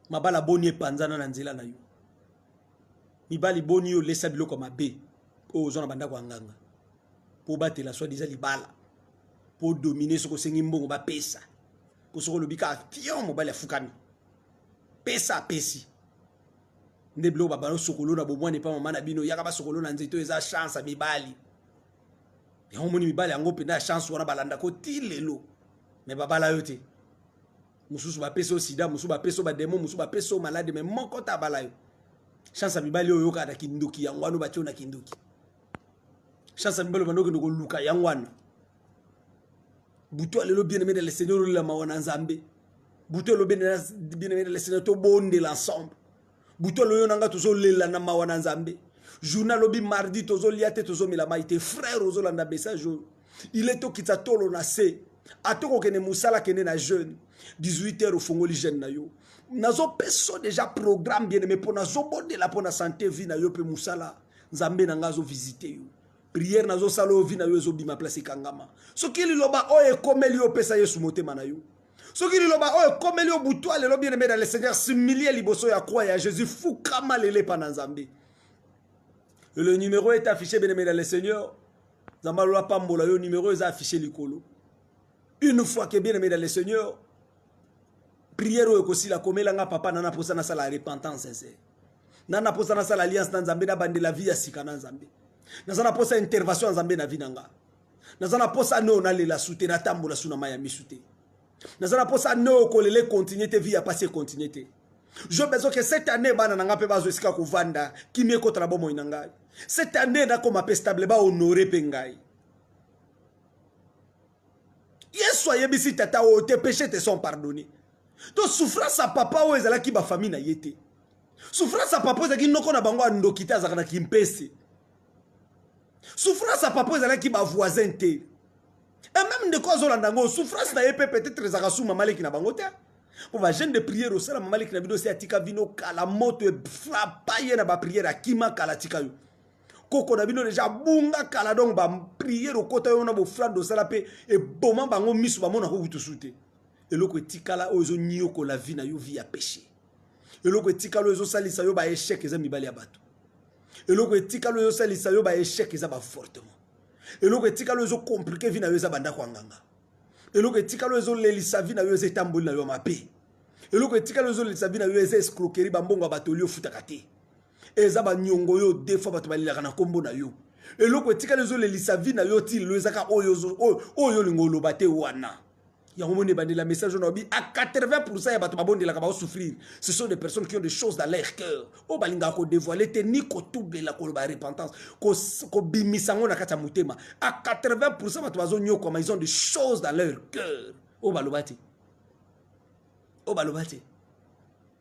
mabala boni epanzana na nzela na yo mibali boni yo olesa biloko ya mabe oyo ozwa na bandako ya nganga mpo obatela soi diza libala mpo odomine soki osengi mbongo bapesa mpo soki olobi kaka fion mobali afukami pesa apesi nde biloko babanda osokolo na bomwana epa mama na bino yaka basokolo na nzete oyo eza chance ya mibali yango omoni mibali yango mpenza ya chance wana balandaka oti lelo me babala yo te mosusu bapesi yo sida mosusu bapesi yo bademo mosusu bapesi yo malade me moko ta abala yo chance ya mibali oyo oyokaka na kindoki yango wana batye na kindoki chance ya mibali obanda okende koluka yango wana butu alelo bien aimé de le seigneur olela mawa na nzambe butu elo bien aimé de le seigneur tobondela ensemble butu aloyo na nga tozolela na mawa na nzambe journal lobi mardi tozolia te tozomela mai te frère ozolanda message oyo ile tokitisa tolo na se ata okokende mosala akende na jeune 18 heures ofongoli jeune na yo nazopesa deja programme bien aime mpo nazobondela mpo na sante vie na yo mpe mosala nzambe na ngai azovisite yo priere nazosala oyo vi na yo ezobima place ekangama soki liloba oyo ekomeli yo opesa yesu motema na yo soki liloba oyo ekomeli yo butwa lelo bien aime na le seigneur similie liboso ya kwa ya jésus fukama lelepa na nzambe le numero est affiché bien aime na le seigneur nzambe alola pambola yo numero eza affiché likolo une fois que bien aime na le seigneur prière oyo ekosila komela nga papa nana posa nasala repentance sincère nana posa nasala alliance na nzambe nabandela vie ya sika na nzambe naza na posa intervention ya nzambe na vie na nga naza na posa neo nalela su te natambola su na mai ya misu te naza na posa neo kolela ekontinue te vie ya pasi ekontinue te je besoin ke cette année bana na nga mpe bazwa esika kovanda kimi ekota na bomoi na ngai cette année nakoma mpe stable bahonore mpe ngai yesu ayebisi tata oyo te péché te sont pardonné to souffrance ya papa oyo ezalaki bafamille na ye te souffrance ya papa ezalaki noko na bango ya ndoki te azalaka na kimpese souffrance ya papa ezalaki bavoisin te e meme ndeko azolanda yango souffrance na ye mpe peut-être ezalaka su mamaleki na bango te mpo bagene de priere osala mamaleki na bino osi atika bino kala moto efrapa ye na bapriere akima kala atika yo koko na bino deja abunga kala donc bapriere okota yo na boflande osala mpe eboma bango miso bamonaka okutu su te eloko etikala oyo ezoniokola vi na yo vi ya peshe eloko etikala oyo ezosalisa yo baechec eza mibali ya bato eloko etikala oyo ezosalisa yo baechec eza bafortement eloko etikala oyo ezokomplike vi na yo eza bandako ya nganga eloko etikala oyo ezolelisa vi na yo eza etamboli na yo ya mabe eloko etikala oyo ezolelisa vi na yo eza escroquerie bambongo ya bato oli ofutaka te eza banyongo yo de fois bato balelaka na nkombo na yo eloko etikali ezolelisa vi na yo ti lelo ezaka oyo oyo olinga oloba te wana yango moni ebandela message oyo naobi a 80 pourcent ya bato babondelaka baosouffrir ce sont des personnes qui ont des choses dans leur cœur oyo balingaka kodévoile te ni kotubela koloba repentance kobimisa yango na kati ya motema a 80 pourcent bato bazonyokwama ils ont des choses dans leur cœur oyo baloba te oyo baloba te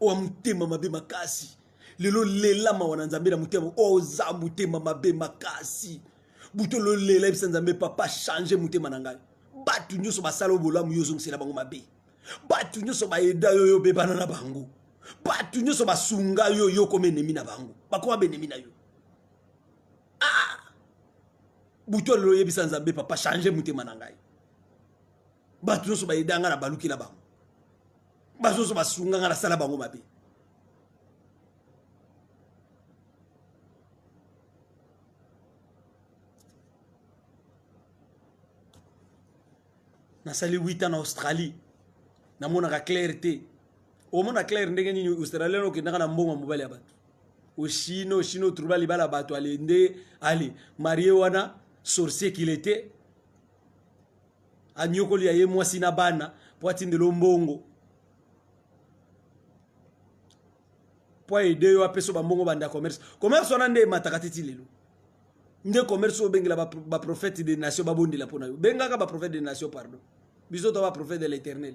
owa motema mabe makasi lelo lela mawa na nzambe na motema oza motema mabe makasi buto lolela yebisa nzambe papa change motema na ngai bato nyonso basala yo bolamu yo ozongisela bango mabe bato nyonso bayeda yo yo obebana na bango bato nyonso basunga yo yo okoma enemi na bango bakoma benemi na yo ah! buto lelo oyebisa nzambe papa change motema na ngai bato nyonso bayeda ngai na baluki na bango bazozo basunga nga nasala bango mabe nasali 8 ans na australie namonaka claire te omona claire ndenge nini australien okendaka na mbongo ya mobali ya bato oshine oshine otrouba libala bato ale nde ale marie wana sorcier kile te anyokoli ya ye mwasi na bana mpo atindelo mbongo mpo aide yo apeso bambongo banda commerce commerce wana nde emataka titi lelo nde commerce oyo obengela baprophète de nation babondela mpo na yo bengaka baprophète de nation pardon biso to baprophète de l'éternel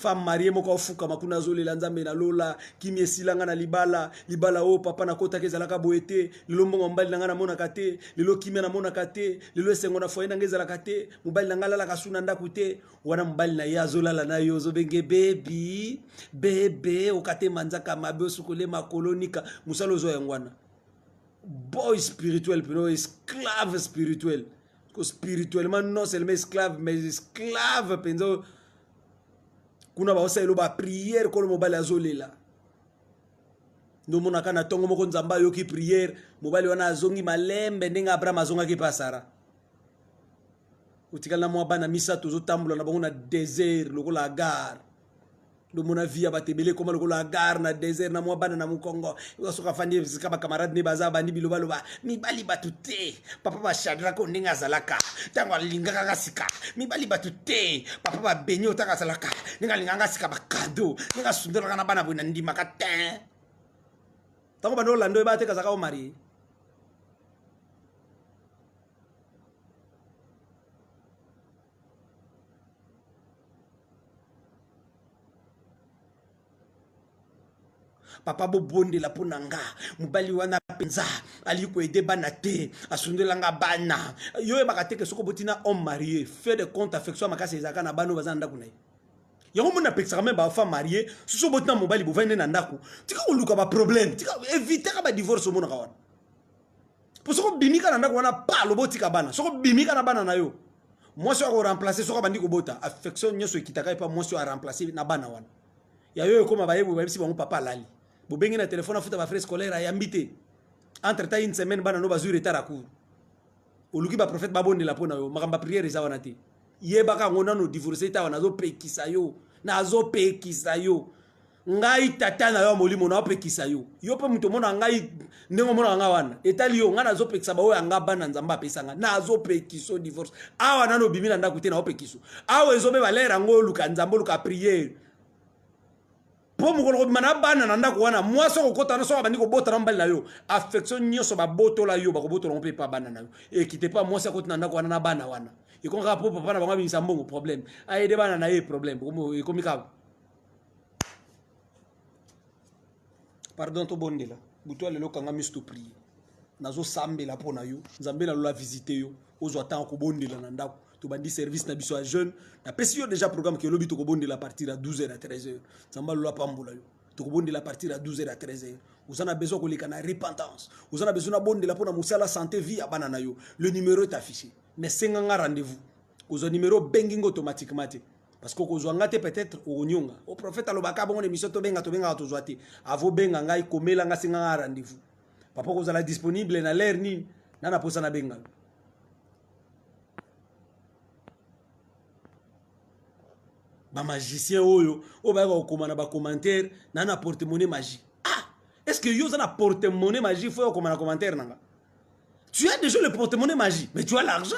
femme marie moko afukama kuna azolela nzambe na lola kimi esila nga na libala libala oyo papa nakotaka ezalaka boye te lelo mbongo ya mobali na ngai namonaka te lelo kimia namonaka te lelo esengo na foye na ngai ezalaka te mobali na ngai alalaka su na ndako te wana mobali na ye azolala na yo ozobenge bebi bebe okate manzaka mabe osukole makolo nika mosala ozwa yango wana boy spirituel peno esclave spirituel ko spirituellement non seulement esclave mais esclave mpenza kuna baosalelo bapriere kolo mobali azolela ndomonaka na ntongo moko nzambe ayoki priere mobali wana azongi malembe ndenge abraham azongaki mpe asara otikali na mwa bana misato ozotambola na bango na desert lokola agare lomona vie ya bato ebele ekoma lokola gare na desert na mwa bana na mokongo soki afandi esika bakamarade ne baza bandi bilobaloba mibali bato te papa bashadrako ndenge azalaka ntango alingaka nga sika mibali bato te papa babeni otaka azalaka ndenge alingaka nga sika bakado ndenge asundolaka na bana boye na ndimaka te ntango bando olanda oyeba te kazaka omarie papa bobondela mpo na nga mobali wana mpenza alingi koede bana te asundela nga bana yo oyebaka teke soki oboti na homme marie fait de compte affection ya makasi ezalaka na bana oyo baza na ndako na ye yango moni apekisaka meme bafa marie soki oboti na mobali bovandi nde na ndako tika koluka baproblème tika evitaka badivorce omonaka wana mpo soki obimi kaka na ndako wana pa lobo otika bana soki obimi kaka na bana na yo mwasi oyo akoremplace soki abandi kobota affection nyonso ekitaka epa mwasi oyo aremplace na bana wana ya yo ekoma bayebwe bayebisi bango papa alali bobengi na telefone afuta bafrais scolaire ayambi te entre temps une semaine bana no bazwi retard ya cour oluki baprofete babondela mpo na yo makambo ya priere eza wana te yebaka yango nano divorce etawa nazopekisa yo nazopekisa yo ngai tata na yo ya molimo naopekisa yo yo mpe moto omonaka ngai ndenge omonaka ngai wana etali yo ngai nazopekisa baoyo ya ngai bana nzambe apesa ngai nazopekisa yo divorce awa nano obimi na ndako te naopekisa awa ezobeba lere yango oluka nzambe oluka priere mpo mokolo kobima na bana na ndako wana mwasi okokota na soki abandi kobota na mobali na yo affection nyonso babotola yo bakobotola ngo mpe epa bana na yo ekite mpa mwasi akoti na ndako wana na bana wana ekomi kaka mpo papa na bango abimisa mbongo problème ayede bana na ye problème ekomi kaka pardon tobondela butu ya lelo kanga miso toprie nazosambela mpo na yo nzambe na lola visite yo ozwa ntango kobondela na ndako tobandi service na biso ya jeune napesi yo déjà programme ke lobi tokobondela partir ya 12 heures à 13 heures nzambe alola apambola yo tokobondela partir ya 12 heures à 13 heures oza na besoin koleka na repentance oza na besoin nabondela mpo na mosala santé vie ya bana na yo le numéro est affiché mais senga nga rendez-vous kozwa numero obengi ngo automatiquement te parce que okozwa nga te peut-être okonyonga o oh, prophète alobaka bongo na émission tobenga tobengaka tozwa te avo benga ngai komela nga singa nga rendez-vous papa okozala disponible na l'heure nini na na posa na benga ba magicien oyo oyo bayaka kokoma na ba commentaire na na porte-monnaie magie ah est ce que yo oza na porte-monnaie magie fo okoma na commentaire na nga tu as déjà le porte-monnaie magie mais tu as l'argent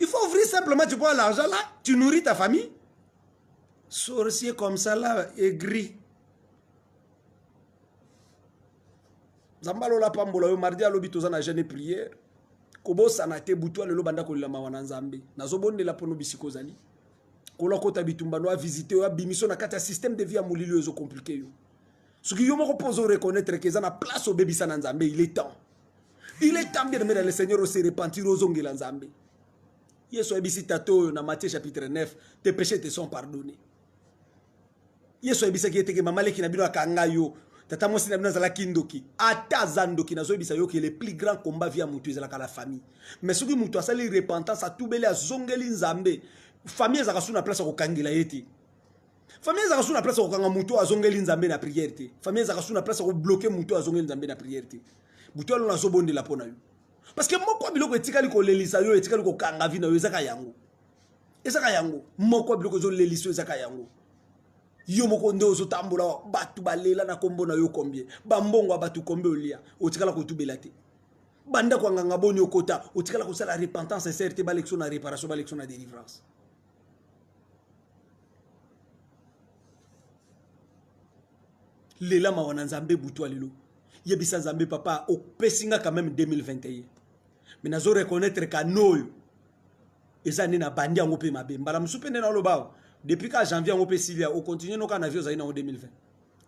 Il faut ouvrir simplement, tu prends l'argent là, tu nourris ta famille. Sorcier comme ça là, aigri. Zambalola pambola yo mardi alobi toza na jeune prière. Kobosana te butu lelo banda kolela mawa na Nzambe. Nazobondela pono bisiko zali. Kola kota bitumba no a visiter yo abimiso na kati ya système de vie ya molili oyo ezo compliquer yo. Soki yo moko pozo reconnaître que eza na place obebisa na Nzambe, il est temps. Il est temps bien aimé dans le Seigneur se repentir ozongela Nzambe. Yesu ayebisi tata oyo na Matthieu chapitre 9, tes péchés te sont pardonnés. Yesu ayebisaki ete ke mama leki na bino akanga yo, tata mwasi na bino azalaki ndoki. Ata aza ndoki nazoyebisa yo ke le plus grand combat via mutu ezalaka la famille. Mais soki mutu asali repentance, atubeli, azongeli Nzambe, famille ezalaka sous na place ya kokangela ye te. Famille ezaka sous na place ko kanga muto azongeli nzambe na prière te. Famille ezaka sous na place ko bloquer muto azongeli nzambe na prière te. Buto alona zo bonde la pona yo. Parce que moko biloko etikali ko lelisa yo etikali ko kanga vie na yo ezaka yango. Ezaka yango. Moko biloko zo lelisa yo ezaka yango. yo moko nde ozotambola bato balela na nkombo na yo kombie bambongo ya bato kombie olia otikala kotubela te bandako ya nganga boni okota otikala kosala repentance sincere te balekisa na réparation balekisa na délivrance lela mawa na nzambe butu alelo yebisa nzambe papa opesi nga quand même 2021 mais nazo reconnaître kano oyo eza nde nabandi yango mpe mabe mbala mosusu mpe nde naoloba awa depuis ka janvier yango mpe silia ocontinue noka na vie ozali nango 2020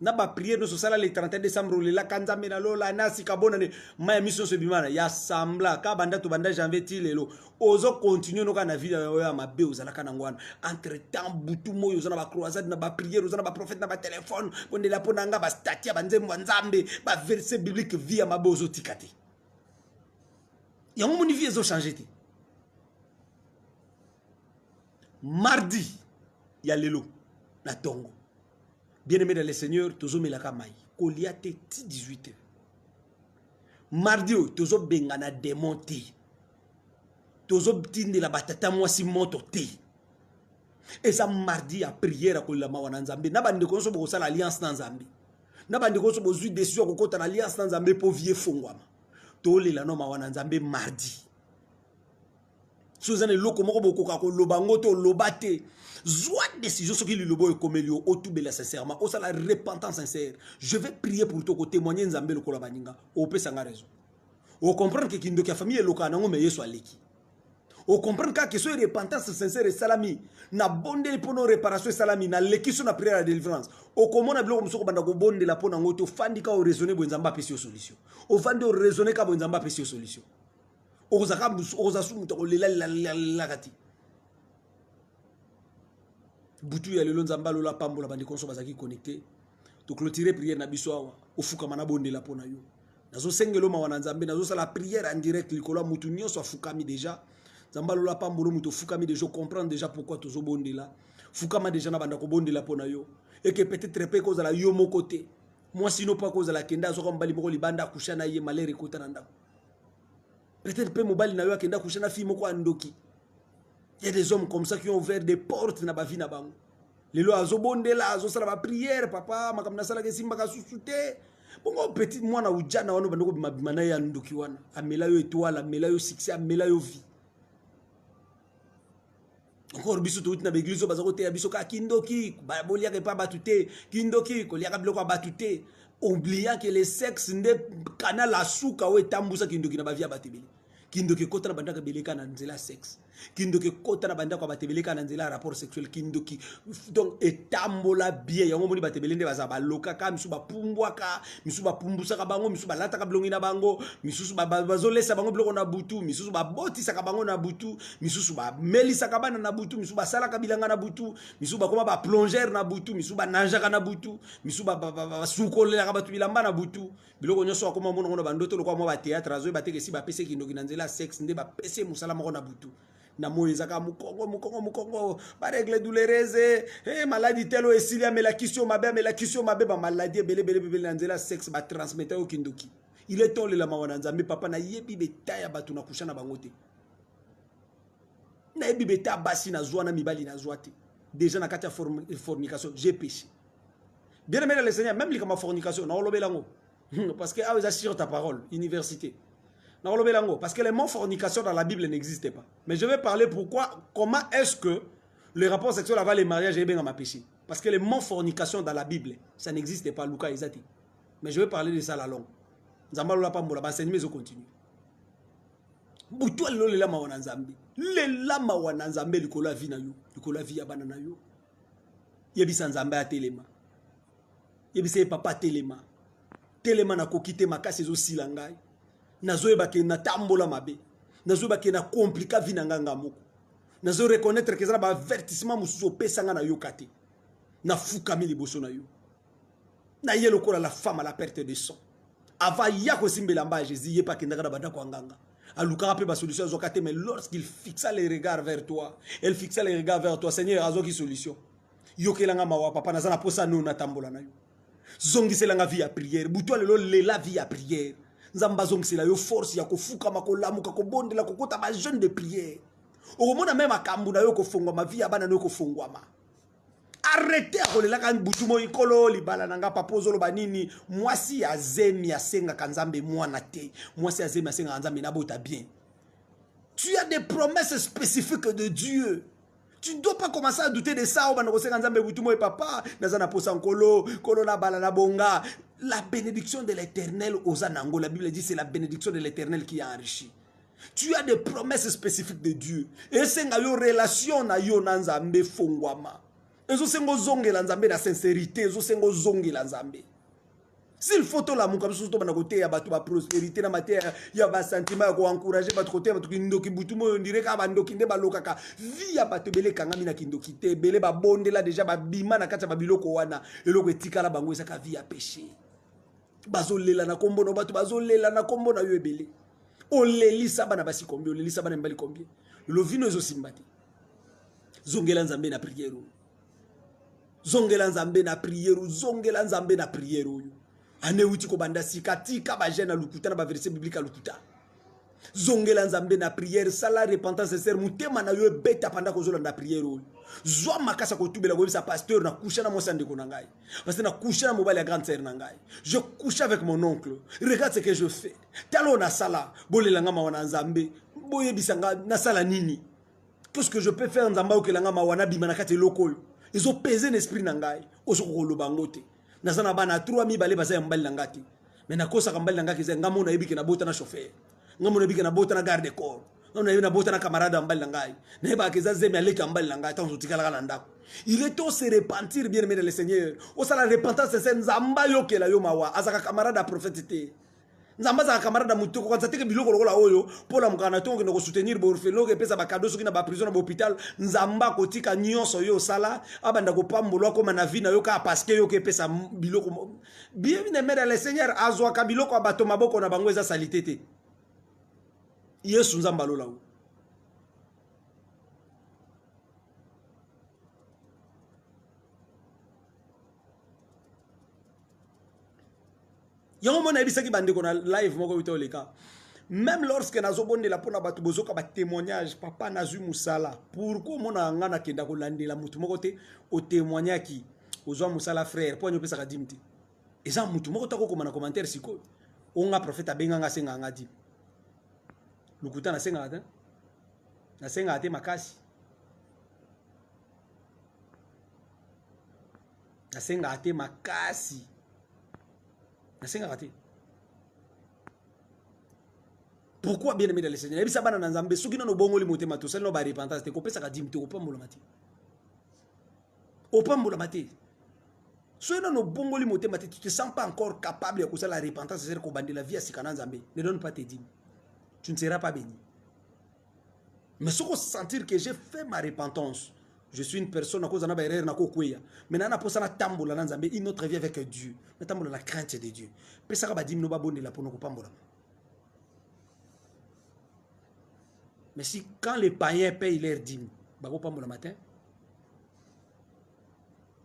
na ba prière nyonso osala le 31 décembre olelaka nzambe na lola na sika bona nde mai ya miso nyonso ebimana ya sambla ka banda tobanda janvier ti lelo ozo continue noka na ville oyo ya mabe ozalaka nango wana entre temps butu moi oza na bacroisade na baprière oza na baprophète na batelefone bondela mpo na nga bastati ya banzembo ya nzambe baverse biblique vie ya mabe ozotika te yango moni vie ezochange te mardi ya lelo na tongo bien aimé dans le seigneur tozomelaka mai kolia te ti 18 heures mardi oyo tozobengana demon te tozotindela batata mwasi moto te eza mardi ya priere ya kolela mawa na nzambe na bandeko nyonso bokosala alliance na nzambe na bandeko nyonso bozwi desizio ya kokota na alliance na nzambe mpo vie efongwama tolela no mawa na nzambe mardi soki eza na eloko moko bokoka koloba yango te oloba te zwa décision soki liloba oyo ekomeli yo otubela sincèrement osala repentance sincère je vais prier pour to kotémoigne nzambe lokola baninga opesa nga raison ocomprendre ke kindoki ya famille elokaka nango me yesu aleki ocomprendre kaka keso repentance sincère esalami na bondeli mpo na réparation esalami na lekiso na prière ya délivrance okomona biloko mosusu okobanda kobondela mpo na yango te ofandi ka oraisonne boye nzambe apesi yo solution ofandi oraisonne ka boye nzambe apesi yo solution okozaka busu okoza su moto akolela lelaka te butu ya lelo nzambe alola apambola bandeko nyonso bazalaki connecte toclotire priere na biso awa ofukama nabondela mpo na yo nazosengelo mawa na nzambe nazosala priere en direct likolo ya motu nyonso afukami deja nzambe alola apambolo moto ofukami deja ocomprendre deja pourkui tozobondela fukama deja na banda kobondela mpo na yo eke peut-être mpe ekozala yo moko te mwasi no mpo akozala kende azwaka mobali moko libanda akusha na ye malere ekota na ndako Peut-être pe mobali na yo akenda coucher na fille moko andoki. Il y a des hommes comme ça qui ont ouvert des portes na ba vie na bango. Lelo azo bondela, azo sala ba prière, papa makambo nasala ke simba ka susu te. Bongo petit mwana ujana wana bandoko bima bima na ya ndoki wana. Amela yo étoile, amela yo succès, amela yo vie. encore biso touti na baeglise oyo baza koteya biso kaka kindoki boliaka epa bato te kindoki koliaka biloko ya bato te oubliant ke le sexe nde kanal ya suka oyo etambusa kindoki na bavia bato ebele kindoki ekota na bandako ebele kaka na nzela ya sexe kindoki ekota na bandako ya bato ebele kaka na nzela ya rapport sexuel kindoki donc etambola bien yango omoni bato ebele nde baza balokaka misusu bapumbwaka misusu bapumbusaka bango misusu balataka bilongi na bango misusu bazolesa bango biloko na butu misusu babotisaka bango na butu misusu bamelisaka bana na butu misusu basalaka bilanga na butu misusu bakoma baplongere na butu misusu bananjaka na butu misusu basukolelaka bato bilamba na butu biloko nyonso akoma monango na bandoto lokola mwa bateatre azoyi bateke esi bapesi kindoki na nzela ya sexe nde bapesi mosala moko na butu na moi ezaka mokongo mokongo mokongo baregle doulerese hey, eh, maladi telo esili amela kisi yo mabe amela kisi yo mabe bamaladi ebelebele bebele na nzela ya sexe batransmeta yo kindoki ile tolela mawa na nzambe papa nayebi beta ya bato na kusha na bango te nayebi beta basi nazwa na mibali nazwa te déjà na kati ya fornication j'ai péché bien aimé le seigneur même likama fornication nakolobela yango hmm, parce que awa ah, eza sur ta parole université nakolobela yango parce que le mot fornication dans la bible n'existe pas mais je vais parler pourquoi comment est-ce que le rapport sexuel avant le mariage ebengama péché parce que le mot fornication dans la bible ça n'existe pas luka eza te mais je vais parler de ça la longue nzambe alola pambola baenseignement ezocontinue butu alelo lela mawa na nzambe lela mawa na nzambe likolo ya vi na yo likolo ya vi ya bana na yo yebisa nzambe atelema yebisa ye papa atelema telema nakoki te makasi ezosila ngai nazoyeba ke natambola mabe nazoyeba ke na komplika vi na ngai nga moko nazo reconnaître ke eza na baavertissement mosusu opesa ngai nayoka te nafukami liboso na yo na ye lokola la femme à la perte de son avant ya kozimbela mba ya jésus ye mpe akendaka na bandako ya nganga alukaka mpe basolution azwaka te mais lorsqu'il fixa les regards vers toi elle fixa les regards vers toi seigneur azwaki solution yokelanga mawa papa naza na mposa nio natambola na yo zongiselanga vie ya prière butu ya lelo lela vie ya prière nzambe azongisela yo force ya kofukama kolamuka kobondela kokota bajeune de prière okomona me makambo na yo kofongwama vie ya bana na yo kofongwama arrete akolelaka butu moi nkolo libala na nga papa ozoloba nini mwasi ya zemi asengaka nzambe mwana te mwasi ya zemi asengaka nzambe nabota bien tu as des promesses spécifiques de dieu tu ne dois pas commencer à douter de ça obanda kosenga nzambe butu moi papa naza na posa nkolo nkolo nabala na bonga la bénédiction de l'éternel oza nango la bible dit c'est la bénédiction de l'éternel qui a enrichi tu as des promesses spécifiques de dieu esenga yo relation na yo na nzambe efongwama ezosenga ozongela nzambe na sincérité ezosenga ozongela nzambe s'il faut tolamuka biso tobanda koteya bato baprospérité na mateya ya basentiment ya koencourage bato koteya bato kindoki butu moyo ondire kaka bandoki nde balokaka vi ya bato ebele ekangami na kindoki te ebele babondela deja babima na kati ya babiloko wana eloko etikala bango ezaka vi ya péché bazolela na kombo na bato bazolela na kombo na yo ebele olelisa bana basi combien olelisa bana mibali combien lovino ezosimba te zongela nzambe na priere oyo zongela nzambe na priere oyo zongela nzambe na priere oyo ane euti kobanda sika tika bagene ya lokuta na baverse biblike ya lokuta zongela nzambe na priere sala repentance sincere motema na yo ebeta panda kozolanda priere oyo zwa makasi ya kotubela koyebisa pasteur na kusha na mwasi ya ndeko na ngai Parce que na couché na mobali ya grande sœur na ngai. Je couche avec mon oncle. Regarde ce que je fais. Talo na sala. Bolela nga mawa na Nzambe. Boyebisa nga na sala nini. Qu'est-ce que je peux faire Nzambe okela nga mawa na bima na kati eloko oyo. Ezo peser na esprit na ngai. Ozo ko loba ngote. Naza na bana 3 mibale baza ya mobali na ngati. mais nakosaka mbali na ngai kiza ngai mona yebike nabota na chauffeur ngai mona yebike nabota na garde corps ngai mona yebi nabota na camarade ya mbali na ngai nayebaka kiza zemi aleki ya mbali na ngai ntango totikalaka na ndako il est temps se repentir bien aimé dans le seigneur osala repentance sincère nzambe ayokela yo mawa azaka camarade ya prophète te nzambe azalaka camarade ya moto kokanisa teke biloko lokola oyo mpo olamukaka na ntongo okende kosoutenir baorfelo okepesa bakado soki na baprison na bahôpital nzambe akotika nyonso yo osala abanda kopambola akóma na vie na yo kaka parceke yo okepesa biloko bien aimé dans le seigneur azwaka biloko ya bato maboko na bango eza salite te yesu nzambe alola o yango mona ayebisaki bandeko na live moko euta oleka même lorsque nazobondela mpo na bato bozoka batémoignage papa nazwi mosala pourkui omonaka ngai nakenda kolandela moto moko te otémoignaki ozwa mosala frère mpo ani opesaka dime te eza mutu moko ta kokoma na commentaire sikoyo oyo nga prophète abenga nga asengaka nga dime lokuta nasengaka te nasengaka te makasi nasengaka te makasi nasengaka te pourquoi bien aimé dans le seigneur yebisa bana na nzambe soki nano obongoli motema tosali no barepentance te kopesaka dime te kopambolama te opambolama te soki nano obongoli motema te tu te sens pas encore capable ya kosala repentance ezali kobandela vie ya sika na nzambe ne donne pas te dime tu ne seras pas béni mais soki osentir que j'ai fait ma repentance je suis une personne nakoza na baerreur nakokweya mai naa naposa natambola na nzambe une autre vie avec dieu natambola na crainte de dieu pesaka badimi no babondela mpo na kopambolama Mais si quand les païens payent leur dîme, bako pambola matin.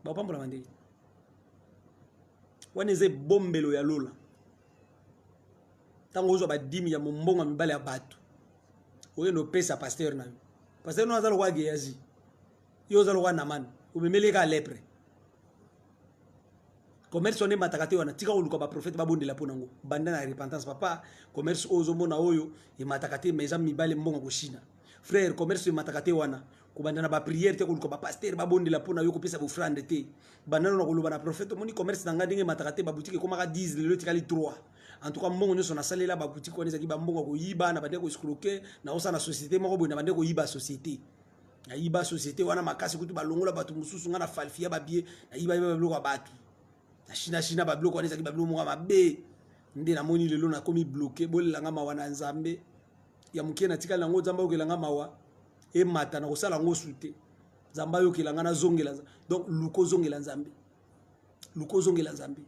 Bako pambola mande. Wana eze bombelo ya lola. Tango ozo ba dîme ya mombongo mibale ya bato. Oye no pesa pasteur na yo. Pasteur no azalo kwa Geazi. yo oza lokola namani omemeli ye kaka lepre commerce wana emataka te wana tika koluka baprofete babondela mpo nango banda na repentance papa commerce oyo ozomona oyo emataka te ma eza mibale mbongo koshina frère commerce emataka te wana kobanda na bapriere te koluka bapastere babondela mpo na yo kopesa bofrande te bandano na koloba na profete omoni commerce na ngai ndenge emataka te babutike ekomaka 10 lelo etikali 3 en tout cas mbongo nyonso nasalela babutike wana ezalaki bambongo ya koyiba na bande koescroke na osala na société moko boye na bande koyiba société nayiba société wana makasi kutu balongola bato mosusu ngai na falfia babie nayiba yeba babiloko ya bato na china china babiloko wana ezalaki babiloko moko ya mabe nde namoni lelo nakomi bloke bolela ngai mawa na nzambe ya moke natikali nango nzambe ayokela ngai mawa emata na kosala yango su te nzambe ayokela ngai nazongela donc luka ozongela nzambe luka ozongela nzambe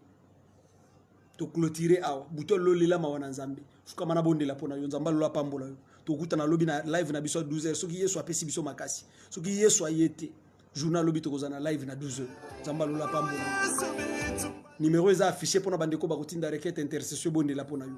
toclotire awa butu alola olela mawa na nzambe fukama na bondela mpo na yo nzambe alola apambola yo tokutana lobi na live na biso ya 12 heures soki yesu apesi biso makasi soki yesu aye te journal lobi tokozala na live na 12 heures nzambe alola apambola yo nimero eza affiche mpo na bandeko bakotinda requete intercession ebondela mpo na yo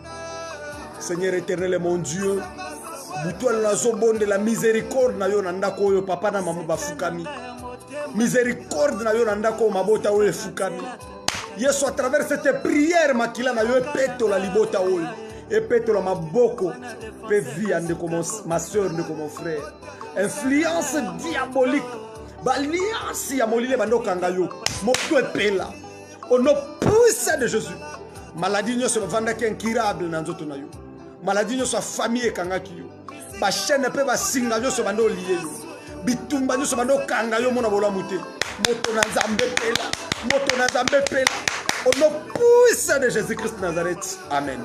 seigneur éternel mon dieu butu wana nazobondela miséricorde na yo na ndako oyo papa na mama bafukami miséricorde na yo na ndako oyo mabota oyo efukami yesu à travers cette prière makila na yo epetola libota oyo epetola maboko mpe vi ya ndeko ma soeur ndeko mon frère influence diabolique baliansi ya molili ebanda okanga yo moto epela au nom puissant de jésus maladie nyonso bavandaki incurable na nzoto na yo maladie nyonso ya famille ekangaki yo bachaine mpe basinga nyonso banda olie yo bitumba nyonso banda okanga yo mona bolamu te moto na nzambe pela moto na nzambe pela au nom puissant de jésus christ nazareth amen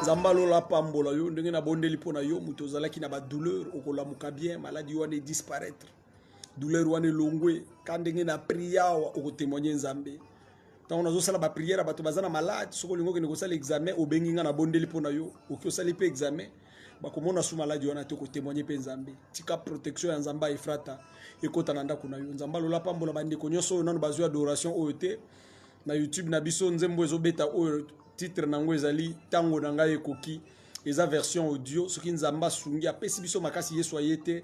nzambe alola apambola yo ndenge nabondeli mpo na yo moto ozalaki na badouleur okolamuka bien maladi wana edisparaitre douleur wana elongwe ka ndenge na priye awa okotemoigne nzambe ntango nazosala bapriere ya bato baza na malade soki olingi okende kosala examen obengi ngai nabondeli mpo na yo oki osali mpe examen bakomona su maladi wana te kotemoigne mpe nzambe tika protection ya nzambe ya efrata ekota na ndako na yo nzambe alola pambola bandeko nyonso oyo nano bazwi adoration oyo te na youtube na biso nzembo ezobeta oyo titre na yango ezali ntango na ngai ekoki eza version audio soki nzambe asungi apesi biso makasi yesu aye te